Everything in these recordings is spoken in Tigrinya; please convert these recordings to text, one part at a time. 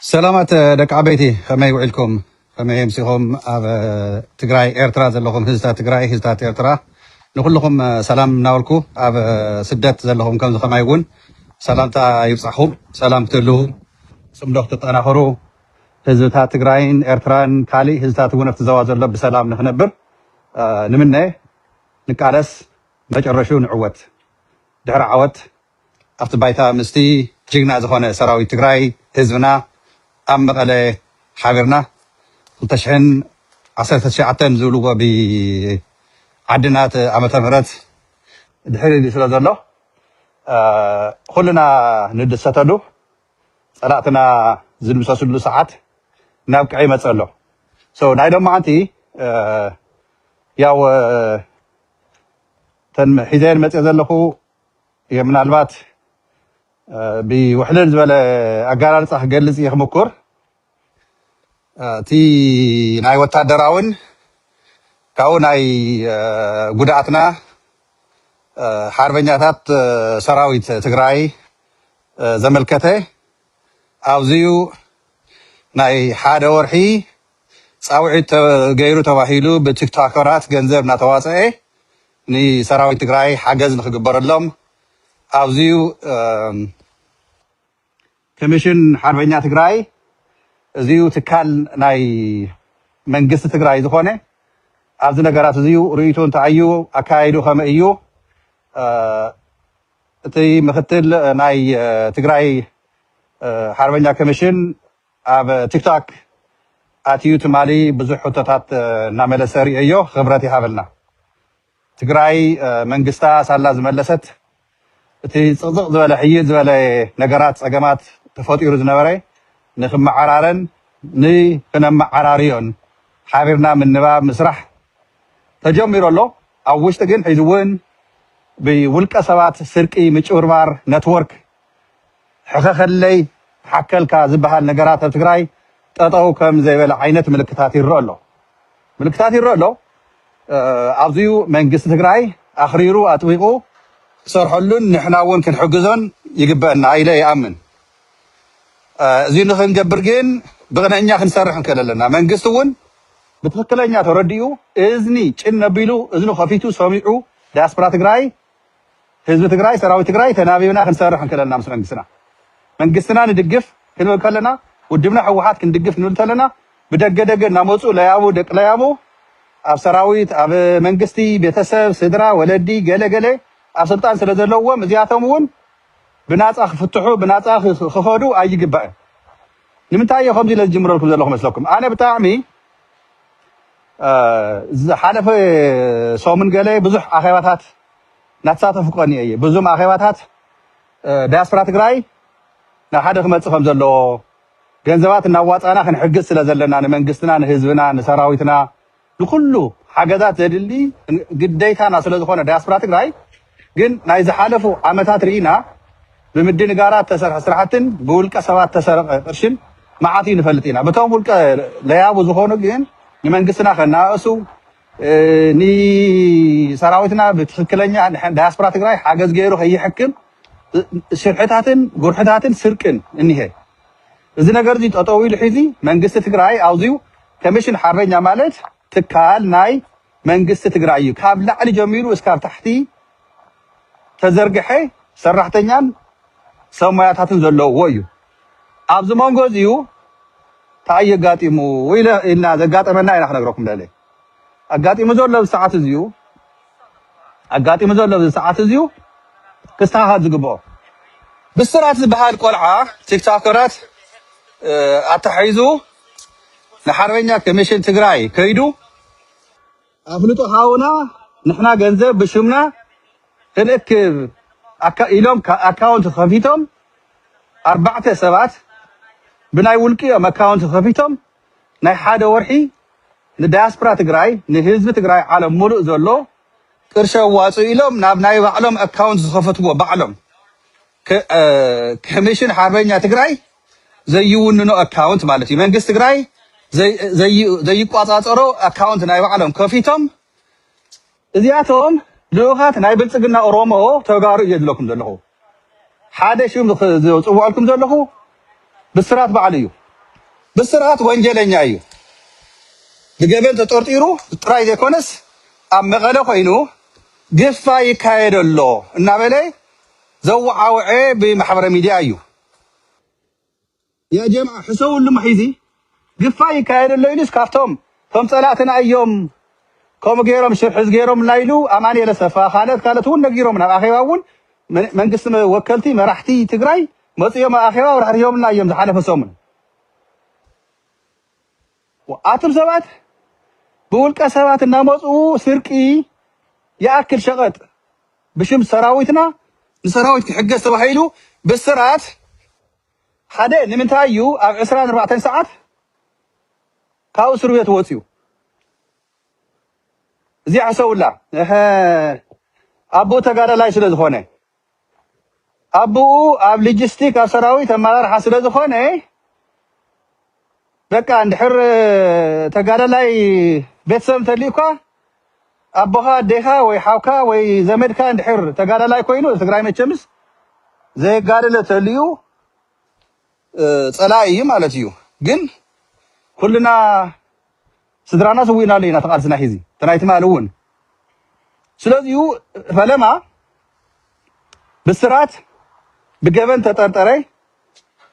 ሰላማት ደቂ ዓበይቲ ከመይ ውዒልኩም ከመይ ኣምሲኹም ኣብ ትግራይ ኤርትራ ዘለኹም ህዝታት ትግራይ ህዝታት ኤርትራ ንኩልኹም ሰላም እናበልኩ ኣብ ስደት ዘለኹም ከምዚ ከማይ እውን ሰላምታ ይብፃሕኹም ሰላም ክትህልው ፅምዶ ክትጠናኸሩ ህዝብታት ትግራይን ኤርትራን ካሊእ ህዝብታት እውን ኣብቲ ዘዋ ዘሎ ብሰላም ንክነብር ንምነ ንቃለስ መጨረሹ ንዕወት ድሕሪ ዓወት ኣብቲ ባይታ ምስቲ ጅግና ዝኾነ ሰራዊት ትግራይ ህዝብና ኣብ መቐለ ሓቢርና ክልተ ሽሕን ዓሰርተ ትሽዓተን ዝብልዎ ብዓድናት ዓመተ ምህረት ድሕሪ ኢሉ ስለ ዘሎ ኹልና ንድሰተሉ ፀላእትና ዝድምሰስሉ ሰዓት እናብቅዐ ይመፅእ ኣሎ so ናይ ሎማዓንቲ ያው እተን ሒዘየን መፅየ ዘለኹ እየ ምናልባት ብውሕልል ዝበለ ኣገላልፃ ክገልፅ እየ ክምኩር እቲ ናይ ወታደራውን ካብኡ ናይ ጉድኣትና ሓርበኛታት ሰራዊት ትግራይ ዘመልከተ ኣብዚዩ ናይ ሓደ ወርሒ ፃውዒት ገይሩ ተባሂሉ ብቲክቶከራት ገንዘብ እናተዋፀኤ ንሰራዊት ትግራይ ሓገዝ ንክግበረሎም ኣዚዩ ክምሽን ሓርበኛ ትግራይ እዚዩ ትካል ናይ መንግስቲ ትግራይ ዝኾነ ኣብዚ ነገራት እዚዩ ርእይቶ እንታይ እዩ ኣካያይዱ ከመይ እዩ እቲ ምክትል ናይ ትግራይ ሓርበኛ ክምሽን ኣብ ቲክታክ ኣትዩ ትማሊ ብዙሕ ሕቶታት እናመለሰ ሪኤዮ ኽብረት ይሃበልና። ትግራይ መንግስታ ሳላ ዝመለሰት እቲ ፅቕፅቕ ዝበለ ሕይል ዝበለ ነገራት ፀገማት ተፈጢሩ ዝነበረ ንኽመዓራረን ንኽነመዓራርዮን ሓቢርና ምንባብ ምስራሕ ተጀሚሩ ኣሎ። ኣብ ውሽጢ ግን ሕዚ እውን ብውልቀ ሰባት ስርቂ ምጭብርባር ነትወርክ ሕኸኸለይ ተሓከልካ ዝበሃል ነገራት ኣብ ትግራይ ጠጠው ከም ዘይበለ ዓይነት ምልክታት ይረእ ኣሎ ምልክታት ይረእ ኣሎ ኣብዚዩ መንግስቲ ትግራይ ኣኽሪሩ ኣጥቢቑ ክሰርሐሉን ንሕና እውን ክንሕግዞን ይግበአና ኢለ ይኣምን እዚ ንክንገብር ግን ብቕንዕኛ ክንሰርሕ ንክእል ኣለና። መንግስቲ እውን ብትክክለኛ ተረዲኡ እዝኒ ጭን ነቢሉ እዝኑ ከፊቱ ሰሚዑ ዲያስፖራ ትግራይ ህዝቢ ትግራይ ሰራዊት ትግራይ ተናቢብና ክንሰርሕ እንክለና ምስ መንግስትና መንግስትና ንድግፍ ክንብል ከለና ውድብና ህወሓት ክንድግፍ ክንብል ከለና ብደገ ደገ እናመፁ ለያቡ ደቂ ለያቡ ኣብ ሰራዊት ኣብ መንግስቲ ቤተሰብ ስድራ ወለዲ ገለ ገለ ኣብ ስልጣን ስለ ዘለዎም እዚኣቶም እውን ብናፃ ክፍትሑ ብናፃ ክኸዱ ኣይግባእን ንምንታይ እየ ከምዚ ኢለ ዝጅምረልኩም ዘለኹ መስለኩም ኣነ ብጣዕሚ ዝሓለፈ ሰሙን ገለ ብዙሕ ኣኼባታት እናተሳተፉ ቀንየ እየ። ብዙም ኣኼባታት ዳያስፖራ ትግራይ ናብ ሓደ ክመፅእ ከም ዘለዎ ገንዘባት እናዋፃእና ክንሕግዝ ስለ ዘለና ንመንግስትና፣ ንህዝብና፣ ንሰራዊትና ንኩሉ ሓገዛት ዘድሊ ግዴታና ስለ ዝኾነ ዳያስፖራ ትግራይ ግን ናይ ዝሓለፉ ዓመታት ርኢና ብምድንጋራት ዝተሰርሐ ስራሕትን ብውልቀ ሰባት ዝተሰረቐ ቅርሽን መዓት እዩ ንፈልጥ ኢና። በቶም ውልቀ ለያቡ ዝኾኑ ግን ንመንግስትና ከነኣእሱ ንሰራዊትና ብትኽክለኛ ዳያስፖራ ትግራይ ሓገዝ ገይሩ ከይሕክም ሽርሕታትን ጉርሕታትን ስርቅን እኒሀ። እዚ ነገር እዚ ጠጠው ኢሉ ሒዚ መንግስቲ ትግራይ ኣውዚዩ ከሚሽን ሓርበኛ ማለት ትካል ናይ መንግስቲ ትግራይ እዩ ካብ ላዕሊ ጀሚሩ እስካብ ታሕቲ ተዘርገሐ ሰራሕተኛን ሰብ ሞያታትን ዘለውዎ እዩ ኣብዚ መንጎ እዚዩ ታይ እዩ ኣጋጢሙ ኢልና ዘጋጠመና ኢና ክነግረኩም ደለ ኣጋጢሙ ዘሎ ኣብዚ ሰዓት እዚዩ ኣጋጢሙ ዘሎ ኣብዚ ሰዓት እዚዩ ክስተኻኸል ዝግብኦ ብስራት ዝበሃል ቆልዓ ቲክቶከራት ኣታሒዙ ንሓርበኛ ኮሚሽን ትግራይ ከይዱ ኣፍልጦ ሃቡና ንሕና ገንዘብ ብሽምና ክንእክብ ኢሎም ኣካውንት ከፊቶም ኣርባዕተ ሰባት ብናይ ውልቅኦም ኣካውንት ከፊቶም ናይ ሓደ ወርሒ ንዳያስፖራ ትግራይ ንህዝቢ ትግራይ ዓለም ሙሉእ ዘሎ ቅርሺ ኣዋፅኡ ኢሎም ናብ ናይ ባዕሎም ኣካውንት ዝኸፈትዎ ባዕሎም ክ ክምሽን ሓርበኛ ትግራይ ዘይውንኖ ኣካውንት ማለት እዩ። መንግስት ትግራይ ዘይ- ዘይ- ዘይቋፃፀሮ ኣካውንት ናይ ባዕሎም ከፊቶም እዚኣቶም ልኡኻት ናይ ብልፅግና ኦሮሞ ተጋሩ እየ ዝብለኩም ዘለኹ። ሓደ ሽም ኽ- ዝፅውዐልኩም ዘለኹ ብስራት ባዕሉ እዩ። ብስራት ወንጀለኛ እዩ። ብገበን ተጠርጢሩ ጥራይ ዘይኮነስ ኣብ መቐለ ኮይኑ ግፋ ይካየድ ኣሎ እናበለ ዘዋዓውዐ ብማሕበረ ሚድያ እዩ። ያጀምዓ ሕሰውሉ መሒዚ ግፋ ይካየድ ኣሎ ኢሉስ ካብቶም እቶም ፀላእትና እዮም ከምኡ ገይሮም ሽርሕዝ ገይሮምልና ኢሉ ኣማኒኤል ኣሰፋ ካልኦት ካልኦት እውን ነጊሮምና ኣብ ኣኼባ እውን መንግስቲ ወከልቲ መራሕቲ ትግራይ መፅኦም ኣብ ኣኼባ ኣብራህሪሆምልና እዮም ዝሓለፈ ሰሙን ኣቱም ሰባት ብውልቀ ሰባት እናመፅኡ ስርቂ ይኣክል ሸቐጥ ብሽም ሰራዊትና ንሰራዊት ክሕገዝ ተባሂሉ ብስራት ሓደ ንምንታይ እዩ ኣብ ዕስራን ኣርባዕተን ሰዓት ካብ እስር ቤት ወፅዩ እዚኣ ሕሰቡላ ኣቦ ተጋዳላይ ስለ ዝኾነ ኣቡኡ ኣብ ሊጂስቲክ ኣብ ሰራዊት ኣመራርሓ ስለ ዝኾነ በቃ እንድሕር ተጋዳላይ ቤተሰብ እንተልዩካ ኣቦኻ ኣዴኻ ወይ ሓውካ ወይ ዘመድካ እንድሕር ተጋዳላይ ኮይኑ ኣብ ትግራይ መቸምስ ዘየጋደለ ተልዩ እ፣ ጸላኢ እዩ ማለት እዩ። ግን ኩልና ስድራና ሰዊእናሉ ኢና እቲ ቃልስና ሒዚ እቲ ናይ ትማሊ እውን ስለዚሁ ፈለማ ብስራት ብገበን ተጠርጠረ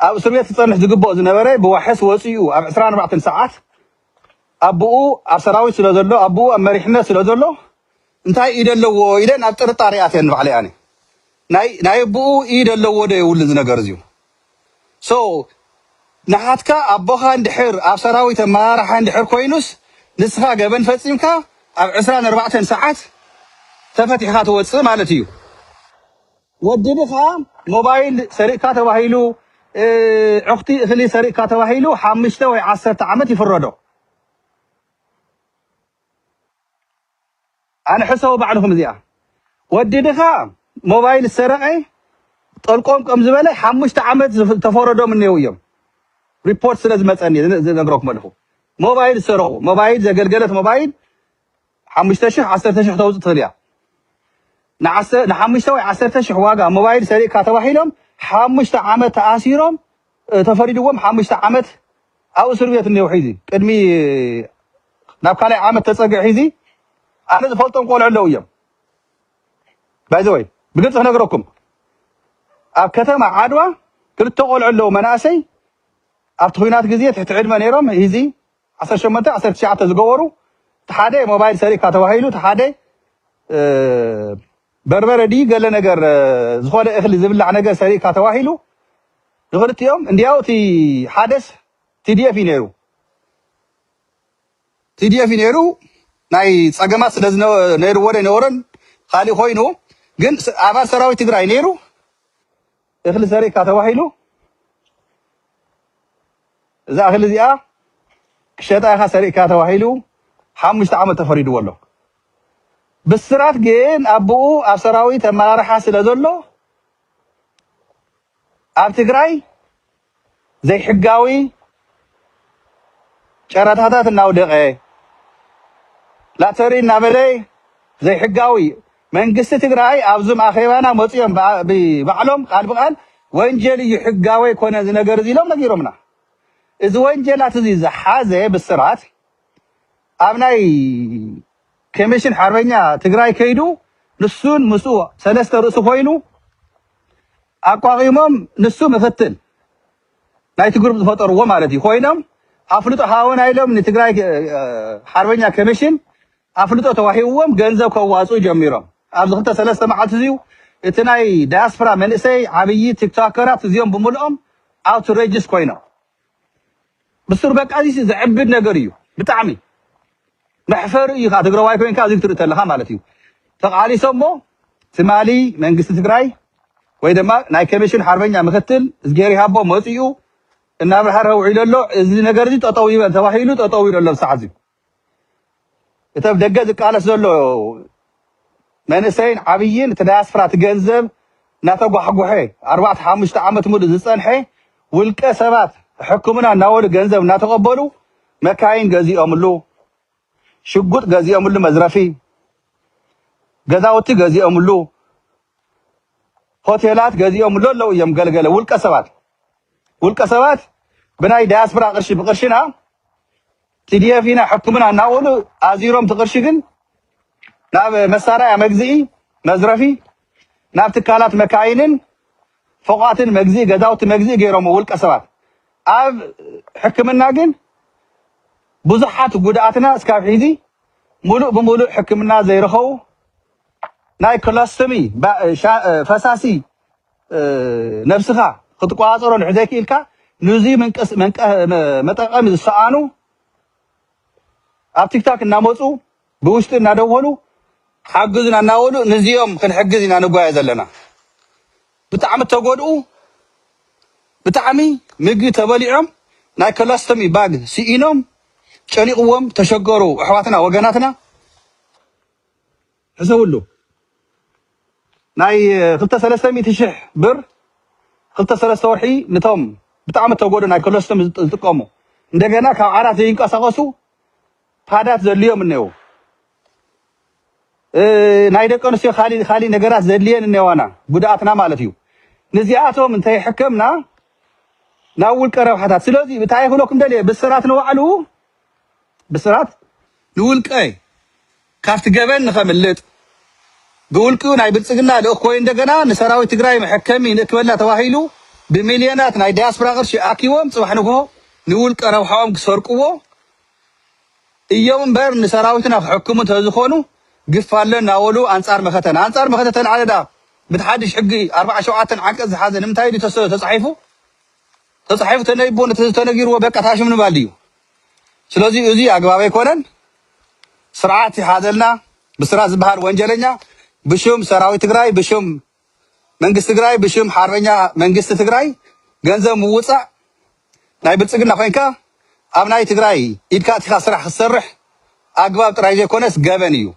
ኣብ እስር ቤት ክፀንሕ ዝግብኦ ዝነበረ ብዋሕስ ወፂኡ ኣብ 24 ሰዓት ኣቦኡ ኣብ ሰራዊት ስለ ዘሎ ኣቦኡ ኣብ መሪሕነት ስለ ዘሎ እንታይ ኢድ ኣለዎ ኢለ ናብ ጥርጣሬ ኣትየ ንባዕለይ ኣነ ናይ ናይ ኣቦኡ ኢድ ኣለዎ ዶ የብሉን እዚ ነገር እዚዩ ሶ ንሓትካ ኣቦኻ እንድሕር ኣብ ሰራዊት ኣመራርሓ እንድሕር ኮይኑስ ንስኻ ገበን ፈጺምካ ኣብ ዕስራን ኣርባዕተን ሰዓት ተፈቲሕኻ ትወጽእ ማለት እዩ። ወድብኻ ሞባይል ሰሪቅካ ተባሂሉ እ ዑክቲ እክሊ ሰሪቅካ ተባሂሉ ሓምሽተ ወይ ዓሰርተ ዓመት ይፍረዶ። ኣነ ሕሰቡ ባዕልኹም እዚኣ ወዲ ድኻ ሞባይል ዝሰረቀ ጠልቆም ከም ዝበለ ሓሙሽተ ዓመት ዝተፈረዶም እኔው እዮም ሪፖርት ስለ ዝመፀኒ ዝነግረኩም ኣለኹ ሞባይል ዝሰረቁ ሞባይል ዘገልገለት ሞባይል ሓሙሽተ ሽሕ ዓሰርተ ሽሕ ተውፅእ ትኽእል እያ ንሓሙሽተ ወይ ዓሰርተ ሽሕ ዋጋ ሞባይል ሰሪቅካ ተባሂሎም ሓሙሽተ ዓመት ተኣሲሮም ተፈሪድዎም ሓሙሽተ ዓመት ኣብ እስር ቤት እኔዉ ሒዚ ቅድሚ ናብ ካልኣይ ዓመት ተጸግዕ ሒዚ ኣነ ዝፈልጦም ቆልዑ ኣለዉ እዮም ባይዘወይ ብግልጺ ክነግረኩም ኣብ ከተማ ዓድዋ ክልተ ቆልዑ ኣለዉ መናእሰይ ኣብቲ ኩናት ግዜ ትሕቲ ዕድመ ነይሮም ሂዚ ዓሰርተ ሸሞንተ፣ ዓሰርተ ትሽዓተ ዝገበሩ እቲ ሓደ ሞባይል ሰሪቅካ ተባሂሉ እቲ ሓደ በርበረ ድዩ ገለ ነገር ዝኾነ እኽሊ ዝብላዕ ነገር ሰሪቅካ ተባሂሉ ንኽልቲኦም እንዲያው እቲ ሓደስ ቲዲኤፍ እዩ ነይሩ ቲዲኤፍ እዩ ነይሩ ናይ ፀገማት ስለ ነይርዎ ዘይነበሮን ካሊእ ኮይኑ ግን ኣባል ሰራዊት ትግራይ ነይሩ እኽሊ ዘሪእካ ተባሂሉ እዛ እኽሊ እዚኣ ክሸጣ ኢኻ ሰሪእካ ተባሂሉ ሓሙሽተ ዓመት ተፈሪድዎ ኣሎ። ብስራት ግን ኣቦኡ ኣብ ሰራዊት ኣመራርሓ ስለ ዘሎ ኣብ ትግራይ ዘይሕጋዊ ጨረታታት እናውደቐ፣ ላተሪ እናበለ ዘይሕጋዊ መንግስቲ ትግራይ ኣብዙም ኣኼባና መፅኦም ብባዕሎም ቃል ብቃል ወንጀል እዩ ሕጋዊ ኣይኮነ እዚ ነገር እዚ ኢሎም ነጊሮምና። እዚ ወንጀላት እዚ ዝሓዘ ብስራት ኣብ ናይ ከሚሽን ሓርበኛ ትግራይ ከይዱ ንሱን ምስኡ ሰለስተ ርእሲ ኮይኑ ኣቋቒሞም ንሱ ምክትል ናይቲ ግሩፕ ዝፈጠርዎ ማለት እዩ ኮይኖም ኣፍልጦ ሃወና ኢሎም ንትግራይ ሓርበኛ ከሚሽን ኣፍልጦ ተዋሂብዎም ገንዘብ ከዋፅኡ ጀሚሮም ኣብዚ ክልተ ሰለስተ መዓልቲ እዚዩ እቲ ናይ ዳያስፖራ መንእሰይ ዓብዪ ቲክቶከራት እዚኦም ብምልኦም ኣውትሬጅስ ኮይኖም ብሱር በቃ እዚሲ ዘዕብድ ነገር እዩ ብጣዕሚ መሕፈሪ እዩ ከዓ ትግራዋይ ኮይንካ እዚ ክትርኢ ተለካ ማለት እዩ ተቃሊሶሞ ትማሊ መንግስቲ ትግራይ ወይ ድማ ናይ ኮሚሽን ሓርበኛ ምክትል እዝጌር ይሃቦ መፂኡ እናብርሃረ ውዒሉ ኣሎ እዚ ነገር እዚ ጠጠው ይበል ተባሂሉ ጠጠው ኢሉ ኣሎ ሰዓት እዚ እቲ ኣብ ደገ ዝቃለስ ዘሎ መንእሰይን ዓብይን እቲ ዳያስፖራ እቲ ገንዘብ እናተጓሕጎሐ ኣርባዕተ ሓሙሽተ ዓመት ሙሉእ ዝፀንሐ ውልቀ ሰባት ሕክምና እናበሉ ገንዘብ እናተቐበሉ መካይን ገዚኦምሉ፣ ሽጉጥ ገዚኦምሉ፣ መዝረፊ ገዛውቲ ገዚኦምሉ፣ ሆቴላት ገዚኦምሉ ኣለዉ እዮም። ገልገለ ውልቀ ሰባት ውልቀ ሰባት ብናይ ዳያስፖራ ቅርሺ ብቅርሽና TDF ኢና ሕክምና እናበሉ ኣዚሮም እቲ ቅርሺ ግን ናብ መሳርያ መግዝኢ፣ መዝረፊ፣ ናብ ትካላት መካይንን ፎቓትን መግዝኢ፣ ገዛውቲ መግዝኢ ገይሮምዎ ውልቀ ሰባት። ኣብ ሕክምና ግን ብዙሓት ጉድኣትና እስካብ ሒዚ ሙሉእ ብሙሉእ ሕክምና ዘይረኸቡ ናይ ክሎስቶሚ፣ ፈሳሲ ነብስኻ ክትቆጻጸሮ ድሕሪ ዘይክኢልካ ንዙይ መንቀስ መንቀ መጠቀሚ ዝሰኣኑ ኣብ ቲክታክ እናመፁ ብውሽጢ እናደወሉ ሓግዙና እናበሉ ንዚኦም ክንሕግዝ ኢና ንጓየ ዘለና ብጣዕሚ ተጎድኡ ብጣዕሚ ምግቢ ተበሊዖም ናይ ኮላስተሚ ባግ ስኢኖም ጨኒቕዎም ተሸገሩ ኣሕዋትና ወገናትና ሕሰብሉ ናይ ክልተ ሰለስተ ሚእቲ ሽሕ ብር ክልተ ሰለስተ ወርሒ ንቶም ብጣዕሚ እተጎድኡ ናይ ኮለስትም ዝጥቀሙ እንደገና ካብ ዓራት ዘይንቀሳቀሱ ፓዳት ዘድልዮም እኔዉ ናይ ደቂ ኣንስትዮ ካሊእ ካሊእ ነገራት ዘድልየን እኔዋና ጉድኣትና ማለት እዩ ንዚኣቶም እንተይሕከምና ናብ ውልቀ ረብሓታት ስለዚ እንታይ ክብለኩም ደልየ ብስራት ንባዕሉ ብስራት ንውልቀይ ካብቲ ገበን ንኸምልጥ ብውልቂኡ ናይ ብልፅግና ልኡኽ ኮይኑ እንደገና ንሰራዊት ትግራይ መሐከሚ ንእክበልና ተባሂሉ ብሚልዮናት ናይ ዳያስፖራ ቅርሺ ኣኪቦም ፅባሕ ንግሆ ንውልቀ ረብሓኦም ክሰርቅዎ እዮም እምበር ንሰራዊትና ክሕክሙ እንተዝኾኑ ግፍ ኣሎ እናበሉ ኣንፃር መኸተን ኣንፃር መኸተ ተልዓለ ድኣ ብቲ ሓድሽ ሕጊ ኣርብዓ ሸውዓተን ዓንቀፅ ዝሓዘ ንምንታይ ድዩ ተስ- ተፃሒፉ ተጻሒፉ ተነቢቡ ነቲ ተነጊርዎ በቃ ታሽም ንባል ድዩ ስለዚ እዚ ኣግባብ ኣይኮነን ስርዓት ይሓዘልና ብስራት ዝበሃል ወንጀለኛ ብሽም ሰራዊት ትግራይ ብሽም መንግስቲ ትግራይ ብሽም ሓርበኛ መንግስቲ ትግራይ ገንዘብ ምውጻእ ናይ ብልጽግና ኮንካ ኣብ ናይ ትግራይ ኢድካ ኣቲኻ ስራሕ ክትሰርሕ ኣግባብ ጥራይ ዘይኮነስ ገበን እዩ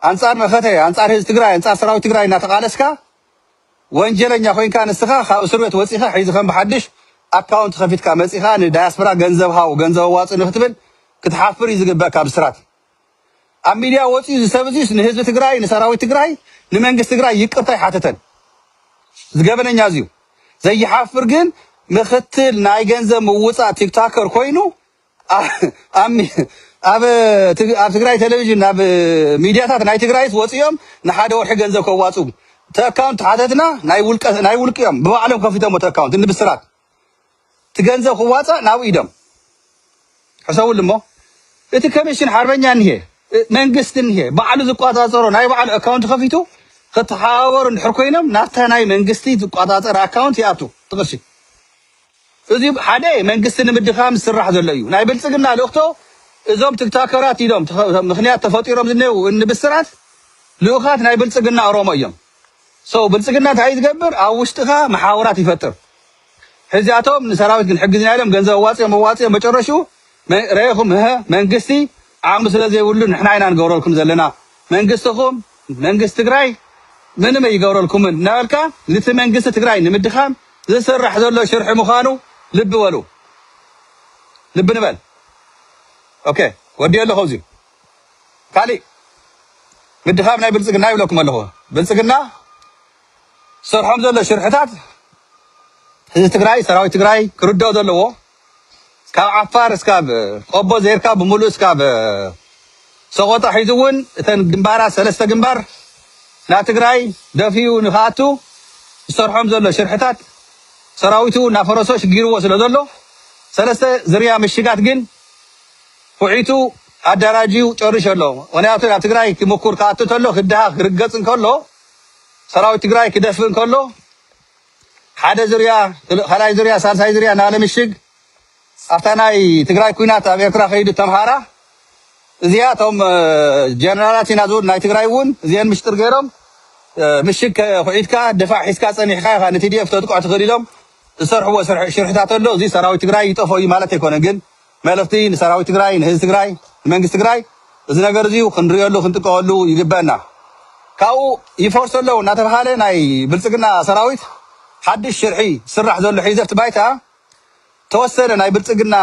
ኣንጻር መኸተ ኣንጻር ህዝቢ ትግራይ ኣንጻር ሰራዊት ትግራይ እናተቃለስካ ወንጀለኛ ኮይንካ ንስካ ካብ እስርቤት ወጺካ ሒዚ ከም ብሓድሽ ኣካውንት ከፊትካ መጺካ ን ዳያስፕራ ገንዘብ ሃቡ ገንዘብ ኣዋጽእኒ ክትብል ክትሓፍር እዩ ዝግበእካ ብስራት ኣብ ሚድያ ወጺኡ እዚ ሰብ እዚስ ንህዝቢ ትግራይ ንሰራዊት ትግራይ ንመንግስት ትግራይ ይቅርታ ኣይሓተተን እዚ ገበነኛ እዚዩ ዘይሓፍር ግን ምክትል ናይ ገንዘብ ምውጻእ ቲክታከር ኮይኑ ኣብ ትግራይ ቴሌቪዥን ናብ ሚድያታት ናይ ትግራይስ ወፂኦም ንሓደ ወርሒ ገንዘብ ከዋፅኡ ተካውንት ሓተትና ናይ ውልቀ ናይ ውልቂ እዮም ብባዕሎም ከፊቶሞ ተካውንት ንብስራት እቲ ገንዘብ ክዋፃእ ናብ ኢዶም ሕሰቡሉ እሞ እቲ ኮሚሽን ሓርበኛ እኒሄ እ- መንግስቲ እኒሄ ባዕሉ ዝቆፃፀሮ ናይ ባዕሉ ኣካውንት ከፊቱ ክተሓባበሩ እንድሕር ኮይኖም ናብታ ናይ መንግስቲ ዝቆፃፀር ኣካውንት ይኣቱ እቲ ቅርሺ እዚ ሓደ መንግስቲ ንምድኻም ዝስራሕ ዘሎ እዩ። ናይ ብልጽግና ልእኽቶ እዞም ትክታከራት ኢሎም ምኽንያት ተፈጢሮም ዝኔዉ እኒ ብስራት ልኡኻት ናይ ብልጽግና ኦሮሞ እዮም። So ብልጽግና እንታይ እዩ ዝገብር ኣብ ውሽጥኻ መሓውራት ይፈጥር። ሕዚኣቶም ንሰራዊት ክንሕግዝና ኢሎም ገንዘብ ኣዋጺኦም ኣዋጺኦም መጨረሽኡ ረኢኹም እህ መንግስቲ ዓቕሚ ስለ ዘይብሉ ንሕና ኢና ንገብረልኩም ዘለና መንግስትኹም መንግስቲ ትግራይ ምንም ኣይገብረልኩምን እናበልካ ንቲ መንግስቲ ትግራይ ንምድኻም ዝስራሕ ዘሎ ሽርሒ ምኻኑ ልቢ በሉ ልቢ ንበል ok ወዲኤ ኣለኹ ኣብዚ ካሊእ ምድኻም ናይ ብልፅግና ይብለኩም ኣለኹ ብልፅግና ዝሰርሖም ዘሎ ሽርሕታት ህዝቢ ትግራይ ሰራዊት ትግራይ ክርደኦ ዘለዎ ካብ ዓፋር እስካብ ቆቦ ዘይርካ ብምሉኡ እስካብ ሰቆጣ ሒዙ እውን እተን ግንባራት ሰለስተ ግንባር ናብ ትግራይ ደፊኡ ንክኣቱ ዝሰርሖም ዘሎ ሽርሕታት ሰራዊቱ እናፈረሶ ሽጊርዎ ስለ ዘሎ ሰለስተ ዝርያ ምሽጋት ግን ኩዒቱ ኣደራጅዩ ጨርሾ ኣሎ። ምክንያቱ ናብ ትግራይ ክምኩር ክኣቱ እንተሎ ክድሃ ክርገፅ እንከሎ ሰራዊት ትግራይ ክደፍእ እንከሎ ሓደ ዙርያ ካልኣይ ዙርያ ሳልሳይ ዙርያ እናበለ ምሽግ ኣብታ ናይ ትግራይ ኩናት ኣብ ኤርትራ ከይዱ ተምሃራ እዚኣ እቶም ጀነራላት ኢና ዝብሉ ናይ ትግራይ እውን እዚአን ምሽጥር ገይሮም ምሽግ ኩዒትካ ድፋዕ ሒዝካ ፀኒሕካ ኢኻ ንቲዲኤፍ ተጥቅዖ ትኽእል ኢሎም ዝሰርሕዎ ሽርሕታት ኣሎ እዚ ሰራዊት ትግራይ ይጠፍኦ እዩ ማለት ኣይኮነን ግን መልእኽቲ ንሰራዊት ትግራይ፣ ንህዝቢ ትግራይ፣ ንመንግስቲ ትግራይ እዚ ነገር እዙይ ክንርእየሉ ክንጥቀወሉ ይግበእና። ካብኡ ይፈርሱ ኣለው እናተብሃለ ናይ ብልፅግና ሰራዊት ሓዱሽ ሽርሒ ዝስራሕ ዘሎ ሒዘፍቲ ባይታ ተወሰነ ናይ ብልፅግና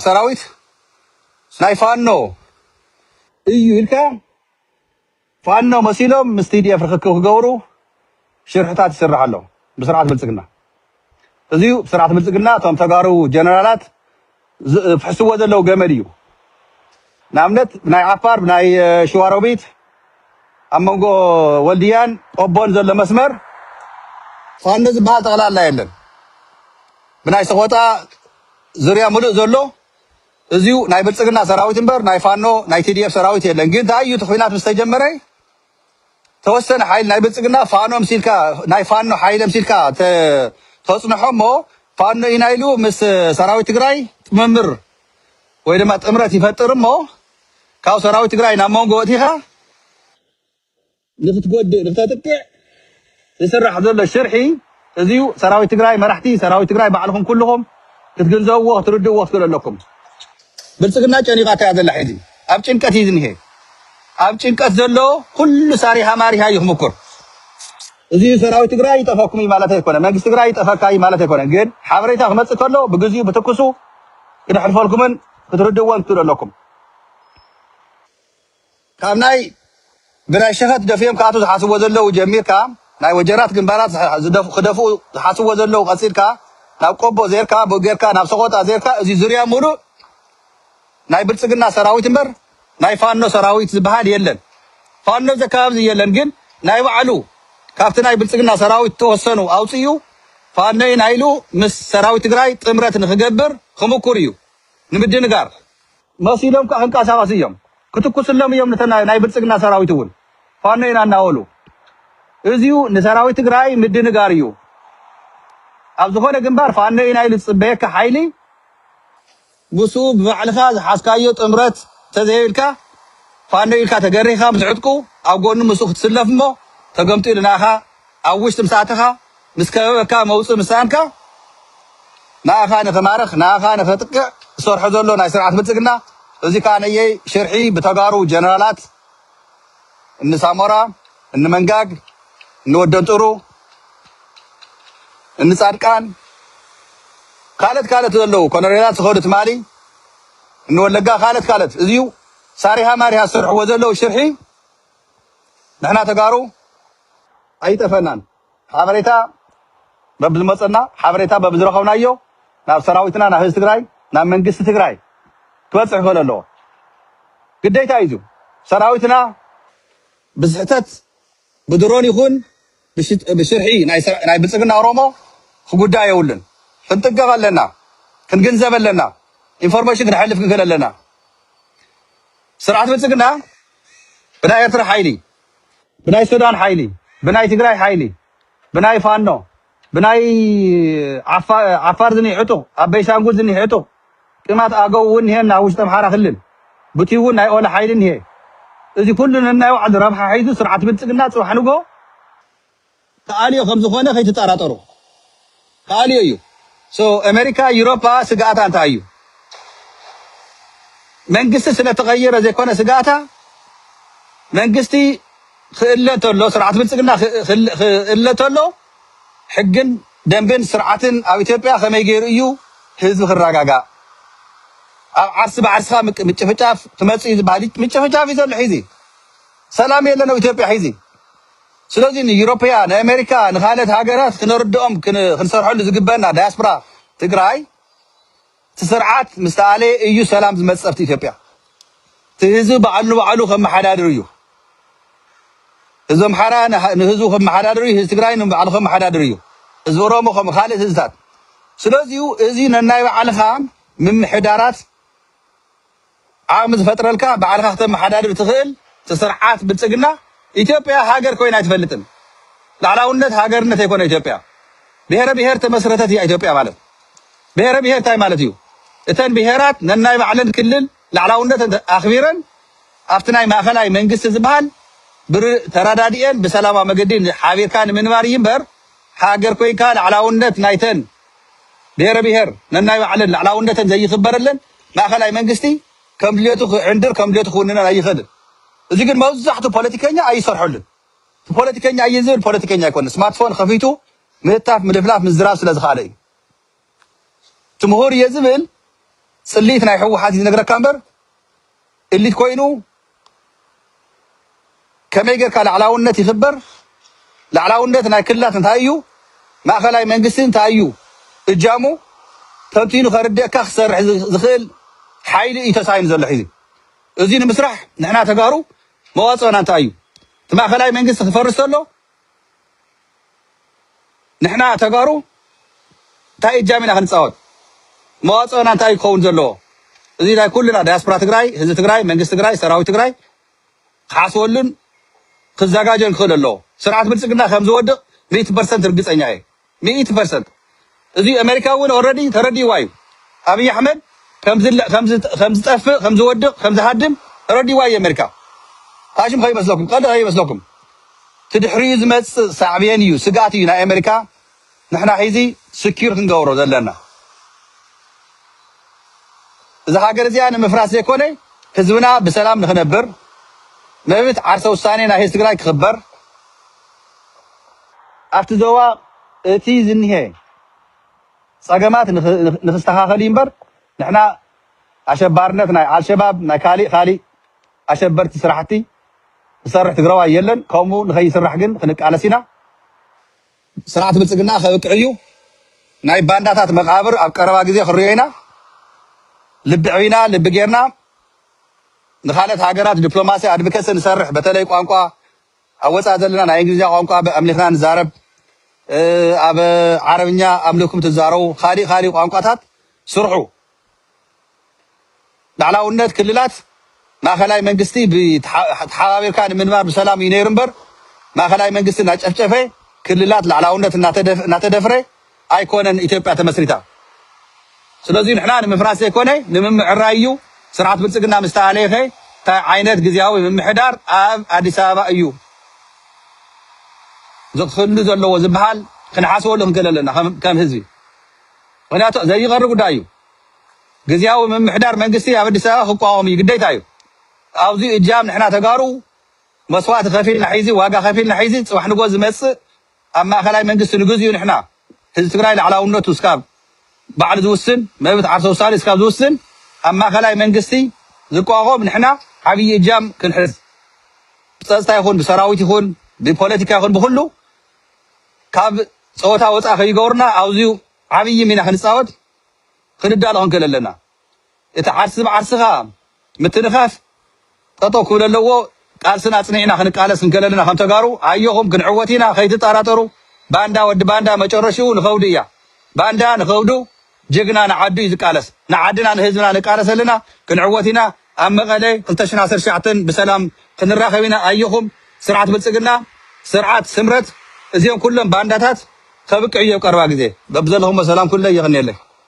ሰራዊት ናይ ፋኖ እዩ ኢልካ ፋኖ መሲሎም ምስ TDF ርኽክብ ክገብሩ ሽርሕታት ይስራሕ ኣሎ ብስርዓት ብልፅግና። እዚ ዩ ስርዓት ብልፅግና እቶም ተጋሩ ጀነራላት ዝፍሕስዎ ዘለዉ ገመድ እዩ። ንኣብነት ብናይ ዓፋር ብናይ ሽዋሮቢት ኣብ መንጎ ወልድያን ቆቦን ዘሎ መስመር ፋኖ ዝበሃል ጠቕላላ የለን። ብናይ ሰቖጣ ዙርያ ሙሉእ ዘሎ እዚዩ ናይ ብልፅግና ሰራዊት እምበር ናይ ፋኖ ናይ tdf ሰራዊት የለን ግን ታይ እዩ እቲ ኹናት ምስ ተጀመረ ተወሰነ ሓይሊ ናይ ብልፅግና ፋኖ ምሲልካ ናይ ፋኖ ሓይለ ምሲልካ ተ ተፅንሖ እሞ ፋኖ ኢና ኢሉ ምስ ሰራዊት ትግራይ ጥምምር ወይ ድማ ጥምረት ይፈጥር እሞ ካብ ሰራዊት ትግራይ ናብ መንጎ ወእቲኻ ንክትጎድእ ንክተጥቅዕ ዝስራሕ ዘሎ ሽርሒ እዚዩ ሰራዊት ትግራይ መራሕቲ ሰራዊት ትግራይ ባዕልኩም ኩሉኩም ክትግንዘብዎ ክትርድእዎ ክትክእሉ ኣለኩም ብልፅግና ጨኒቃታ እያ ዘላ ሕዚ ኣብ ጭንቀት እዩ ዝኒሀ ኣብ ጭንቀት ዘሎ ኩሉ ሳሪሃ ማሪሃ እዩ ክምኩር እዚዩ ሰራዊት ትግራይ ይጠፈኩም እዩ ማለት ኣይኮነ መንግስቲ ትግራይ ይጠፈካ እዩ ማለት ኣይኮነ ግን ሓበሬታ ክመፅእ ከሎ ብግዚኡ ብትኩሱ ክነሕልፈልኩምን ክትርድእዎን ክትክእሉ ኣለኩም ካብ ናይ ብናይ ሸፈጥ ደፊኦም ክኣትዉ ዝሓስብዎ ዘለዉ ጀሚርካ ናይ ወጀራት ግንባራት ዝሕ ዝደፍ ክደፍኡ ዝሓስብዎ ዘለዉ ቀጺልካ ናብ ቆቦ ዜርካ ብ ጌርካ ናብ ሰቖጣ ዜርካ እዚ ዙርያ ሙሉእ ናይ ብልጽግና ሰራዊት እምበር ናይ ፋኖ ሰራዊት ዝብሃል የለን። ፋኖ እዚ ኣከባቢ እዚ የለን ግን ናይ ባዕሉ ካብቲ ናይ ብልጽግና ሰራዊት ዝተወሰኑ ኣውጺኡ ፋኖ ኢና ኢሉ ምስ ሰራዊት ትግራይ ጥምረት ንክገብር ክሙኩር እዩ ንምድንጋር መሲሎም ከኣ ክንቀሳቀሱ እዮም ክትኩስሎም እዮም ነተን ናይ ብልጽግና ሰራዊት እውን ፋኖ ኢና እናበሉ እዚዩ ንሰራዊት ትግራይ ምድንጋር እዩ ኣብ ዝኾነ ግንባር ፋኖ ኢና ኢሉ ዝጽበየካ ሓይሊ ምስኡ ብባዕልኻ ዝሓዝካዮ ጥምረት እንተዘይብልካ ፋኖ ኢልካ ተገሪህካ ምስ ዕጥቁ ኣብ ጎኑ ምስኡ ክትስለፍ እሞ ተገምጢሉ ናኻ ኣብ ውሽጢ ምስ ኣተኻ ምስ ከበበካ መውጽኢ ምስ ሰኣንካ ንኣኻ ንክማርኽ ንኣኻ ንከጥቅዕ ዝሰርሖ ዘሎ ናይ ስርዓት ብልጽግና እዚ ከኣ ነየይ ሽርሒ ብተጋሩ ጀነራላት እኒ ሳሞራ እኒ መንጋግ እኒ ወደንጥሩ እኒ ጻድቃን ካልኦት ካልኦት ዘለዉ ኮሎኔላት ዝኸዱ ትማሊ እኒ ወለጋ ካልኦት ካልኦት እዚዩ ሳሪሃ ማሪሃ ዝሰርሕዎ ዘለዉ ሽርሒ ንሕና ተጋሩ ኣይጠፈናን ሓበሬታ በብዝመፀና ሓበሬታ በብዝረኸብናዮ ናብ ሰራዊትና ናብ ህዝቢ ትግራይ ናብ መንግስቲ ትግራይ ክበፅሕ ክኽእል ኣለዎ ግዴታ እዩ ሰራዊትና ብስሕተት ብድሮን ይኹን ብሽርሒ ናይ ብልፅግና ኦሮሞ ክጉዳእ የብሉን ክንጥንቀቅ ኣለና ክንግንዘብ ኣለና ኢንፎርሜሽን ክነሕልፍ ክንክእል ኣለና ስርዓት ብልፅግና ብናይ ኤርትራ ሓይሊ ብናይ ሱዳን ሓይሊ ብናይ ትግራይ ሓይሊ ብናይ ፋኖ ብናይ ዓፋር ዝኒህ ዕጡቅ ኣብ ቤንሻንጉል ዝኒህ ዕጡቅ ቅማንት ኣገው እውን እኒሀና ኣብ ውሽጢ ኣምሓራ ክልል ብትዩ እውን ናይ ኦላ ሓይሊ እኒሀ እዚ ኩሉ ነናይ ባዕሉ ረብሓ ሒዙ ስርዓት ብልፅግና ፅባሕ ንግሆ ክኣልዮ ከም ዝኾነ ከይትጠራጠሩ ክኣልዮ እዩ so ኣሜሪካ ዩሮፓ ስግኣታ እንታይ እዩ መንግስቲ ስለ ተቐየረ ዘይኮነ ስግኣታ መንግስቲ ክእለ እንተሎ ስርዓት ብልፅግና ክእለ እንተሎ ሕግን ደንብን ስርዓትን ኣብ ኢትዮጵያ ከመይ ገይሩ እዩ ህዝቢ ክረጋጋእ? ኣብ ዓርሲ ብዓርስኻ ምጭፍጫፍ ክመፅእ እዩ ዝበሃል ምጭፍጫፍ እዩ ዘሎ ሒዚ ሰላም የለን ኣብ ኢትዮጵያ ሒዚ ስለዚ ንኢሮፕያ ንኣሜሪካ ንካልኦት ሃገራት ክነርድኦም ክንሰርሐሉ ዝግበእና ዳያስፕራ ትግራይ እቲ ስርዓት ምስ ተኣለየ እዩ ሰላም ዝመፅእ ኣብቲ ኢትዮጵያ። እቲ ህዝቢ ባዕሉ ንባዕሉ ከመሓዳድር እዩ። ህዝቢ ኣምሓራ ንህዝቡ ከመሓዳድር እዩ። ህዝቢ ትግራይ ንባዕሉ ከመሓዳድር እዩ። ህዝቢ ኦሮሞ ከምኡ ካልእ ህዝብታት። ስለዚዩ እዚ ነናይ ባዕልኻ ምምሕዳራት ዓቕሚ ዝፈጥረልካ ባዕልኻ ክተመሓዳድር እትኽእል ትስርዓት ብልፅግና ኢትዮጵያ ሃገር ኮይና ኣይትፈልጥን ላዕላውነት ሃገርነት ኣይኮነ ኢትዮጵያ ብሄረ ብሄር ተመስረተት እያ ኢትዮጵያ ማለት ብሄረ ብሄር እንታይ ማለት እዩ እተን ብሄራት ነናይ ባዕለን ክልል ላዕላውነት ኣኽቢረን ኣብቲ ናይ ማእኸላይ መንግስቲ ዝበሃል ብር ተረዳዲኤን ብሰላማዊ መገዲ ሓቢርካ ንምንባር እዩ እምበር ሃገር ኮይንካ ላዕላውነት ናይተን ብሄረ ብሄር ነናይ ባዕለን ልዕላውነተን ዘይኽበረለን ማእኸላይ መንግስቲ ከም ድሌቱ ክዕንድር ከም ድሌቱ ክውንነን ኣይኽእልን። እዚ ግን መብዛሕቱ ፖለቲከኛ ኣይሰርሐሉን። እቲ ፖለቲከኛ እየ ዝብል ፖለቲከኛ ኣይኮነን። ስማርትፎን ኸፊቱ ምህታፍ ምልፍላፍ ምዝራብ ስለ ዝኸኣለ እዩ። እቲ ምሁር እየ ዝብል ፅልኢት ናይ ህወሓት እዩ ዝነግረካ እምበር እሊት ኮይኑ ከመይ ጌርካ ላዕላውነት ይኽበር? ላዕላውነት ናይ ክልላት እንታይ እዩ? ማእኸላይ መንግስቲ እንታይ እዩ እጃሙ? ተንቲኑ ከርድኣካ ክሰርሕ ዝኽእል ሓይሊ እዩ ተሳኢኑ ዘሎ ሕዚ። እዙይ ንምስራሕ ንሕና ተጋሩ መዋፅኦና እንታይ እዩ? እቲ ማእኸላይ መንግስቲ ክፈርስ ተሎ ንሕና ተጋሩ እንታይ እጃም ኢና ክንፃወት? መዋፅኦና እንታይ እዩ ክኸውን ዘለዎ? እዚ ናይ ኩልና ዳያስፖራ ትግራይ፣ ህዝቢ ትግራይ፣ መንግስቲ ትግራይ፣ ሰራዊት ትግራይ ክሓስበሉን ክዘጋጆን ክኽእል ኣለዎ። ስርዓት ብልፅግና ከምዝወድቕ ሚእቲ ፐርሰንት ርግፀኛ እየ። ሚእቲ ፐርሰንት እዚ ኣሜሪካ እውን ኦረዲ ተረዲእዋ እዩ ኣብይ ኣሕመድ ከምዝጠፍእ ከምዝወድቅ ከምዝሃድም ተረዲእዋ እዩ ኣሜሪካ ታሽም ከይመስለኩም ቀልዲ ከይመስለኩም እቲ ድሕሪኡ ዝመፅእ ሳዕቤን እዩ ስግኣት እዩ ናይ ኣሜሪካ ንሕና ሒዚ ስኪር ክንገብሮ ዘለና እዚ ሃገር እዚኣ ንምፍራስ ዘይኮነ ህዝብና ብሰላም ንክነብር መብት ዓርሰ ውሳኔ ናይ ህዝቢ ትግራይ ክክበር ኣብቲ ዞባ እቲ ዝኒሀ ፀገማት ንክስተኻኸል እዩ እምበር ንሕና ኣሸባርነት ናይ ኣልሸባብ ናይ ካሊእ ካሊእ ኣሸበርቲ ስራሕቲ ዝሰርሕ ትግራዋይ የለን። ከምኡ ንከይስራሕ ግን ክንቃለስ ኢና። ስርዓት ብልፅግና ከብቅዕ እዩ። ናይ ባንዳታት መቃብር ኣብ ቀረባ ግዜ ክንሪኦ ኢና። ልቢ ዕቢና ልቢ ጌርና ንካልኦት ሃገራት ዲፕሎማሲ ኣድቭከሲ ንሰርሕ በተለይ ቋንቋ ኣብ ወጻኢ ዘለና ናይ እንግሊዝኛ ቋንቋ ኣምሊኽና ንዛረብ ኣብ ዓረብኛ ኣምልኩም ትዛረቡ ካሊእ ካሊእ ቋንቋታት ስርሑ ላዕላውነት ክልላት ማእከላይ መንግስቲ ተሓባቢርካ ንምንባር ብሰላም እዩ ነይሩ እምበር ማእከላይ መንግስቲ እናጨፍጨፈ ክልላት ላዕላውነት እናተደፍረ ኣይኮነን ኢትዮጵያ ተመስሪታ ስለዙይ ንሕና ንምፍራስ ዘይኮነ ንምምዕራይ እዩ ስርዓት ብልፅግና ምስ ተኣለየኸ ታይ ዓይነት ግዝያዊ ምምሕዳር ኣብ ኣዲስ ኣበባ እዩ ዝክህሉ ዘለዎ ዝበሃል ክንሓስበሉ ክንክእል ኣለና ከም ህዝቢ ምክንያቱ ዘይቀሪ ጉዳይ እዩ ግዝያዊ ምምሕዳር መንግስቲ ኣብ ኣዲስ ኣበባ ክቋወም እዩ ግዴታ እዩ ኣብዚ እጃም ንሕና ተጋሩ መስዋእቲ ከፊልና ሒዚ ዋጋ ከፊልና ሒዚ ፅባሕ ንጎ ዝመፅእ ኣብ ማእኸላይ መንግስቲ ንግዚኡ ንሕና ህዝቢ ትግራይ ላዕላውነቱ እስካብ ባዕሉ ዝውስን መብት ዓርሰ ውሳኔ እስካብ ዝውስን ኣብ ማእኸላይ መንግስቲ ዝቋቖም ንሕና ዓብዪ እጃም ክንሕዝ ብፀፅታ ይኹን ብሰራዊት ይኹን ብፖለቲካ ይኹን ብኹሉ ካብ ፀወታ ወፃእ ከይገብሩና ኣብዚዩ ዓብዪ ሚና ክንፃወት ክንዳሎ ክንክእል ኣለና እቲ ዓርሲ ብዓርስኻ ምትንኻፍ ጠጠው ክብል ኣለዎ ቃልስና ኣፅኒዕና ክንቃለስ እንከለለና ከም ተጋሩ ኣዮኹም ክንዕወት ኢና ከይትጣራጠሩ ባንዳ ወዲ ባንዳ መጨረሽኡ ንኸውዲ እያ ባንዳ ንኸውዱ ጅግና ንዓዱ እዩ ዝቃለስ ንዓድና ንህዝብና ንቃለስ ኣለና ክንዕወት ኢና ኣብ መቐለ ክልተ ሽሕን ዓሰርተ ትሽዓተን ብሰላም ክንራኸብ ኢና ኣዮኹም ስርዓት ብልፅግና ስርዓት ስምረት እዚኦም ኩሎም ባንዳታት ከብቅዕ እዩ ኣብ ቀረባ ግዜ በብዘለኹሞ ሰላም ኩለ የቕንየለይ።